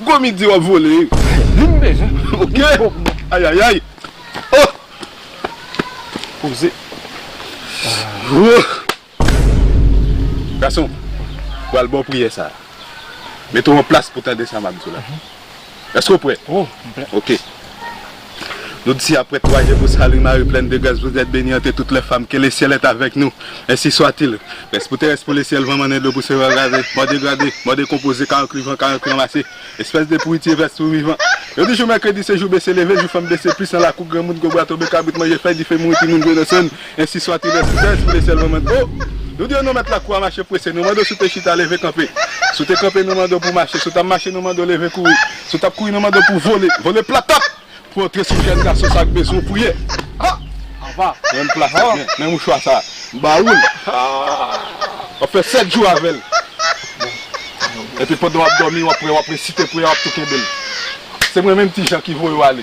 Gomi di wap vole ok ayayay oh poze gason pral baw priyè sa mete w an plas pou tande sa map diw la eske w prè ok. Jodi a, prèt wa Jebou Salin Mari plèn de gras Vous êtes bénie entre toutes les femmes Que le ciel est avec nous Ainsi soit-il Pès pou terès pou lesyèl Van mannen dlo pou sere kraze Mò degrade Mò dekonpoze Ka ankli van Ka ankli ranmase Espès de pouritye Vès pou vivan Yo di jou mèkredi se jou bese leve Jou fanm bese plis nan lakou granmoun Gwo bwa tonbe kabrit manje fèy Dife mouri timoun jwe nan sèn Ensi soit il ainsi fait, pou le ciel mwen mande oh Nou di yo nou mèt lakou a mache prese Nou mande w si w te chita leve kanpe Si w te kanpe nou mande w pou w mache Si w t ap mache nou mande w leve kouri Si w t ap kouri nou mande w pou w vole Vole platap Pou w antre sou jèn gason sa k bezwen w pou ye Apa Menm pla sa Men men mouchwa sa M ba ou l W ap fè 7 jou avè l Epi pandan w ap dòmi w ap wè w ap resite priyè w ap tou kenbe l Se mwen menm Ti Jan ki voye w ale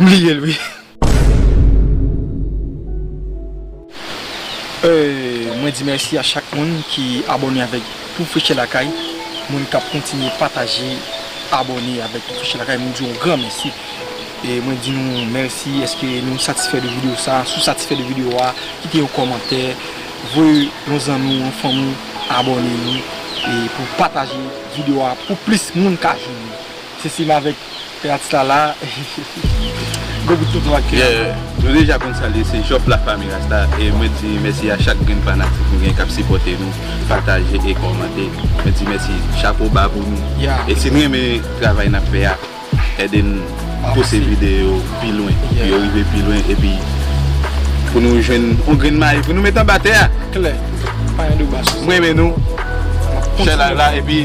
M bliye l wi. Mwen di mèsi a chak moun ki abòne avèk Pou Freche Lakay, moun kap kontinye pataje, abòne avèk Pou Freche Lakay mwen di yon gran mèsi e mwen di nou mèsi eske nou satisfè de videyo sa, si w satisfè de videyo a kite yon kòmantè, voye yon zanmi w, yon fanmi w abòne e pou pataje videyo a pou plis moun ka jwenn li. Se sim avek Rasta la. Gwo bout tonton ak Kira. Yeah, nou deja konn sa l ye se Job la Famille Rasta e mwen di mèsi a chak grenn fanatik nou gen kap sipòte nou, pataje e kòmante. Mwen di mèsi, chapo ba pou nou. Yeah. E si n renmen travay nap fè a, ede n pouse videyo yo pi lwen pou yo rive pi lwen epi pou nou jwenn yon grenn mayi pou nou met anba tè a. Klè. Pa yon deba sou sa. M renmen nou. Map kontinye. Share live la epi.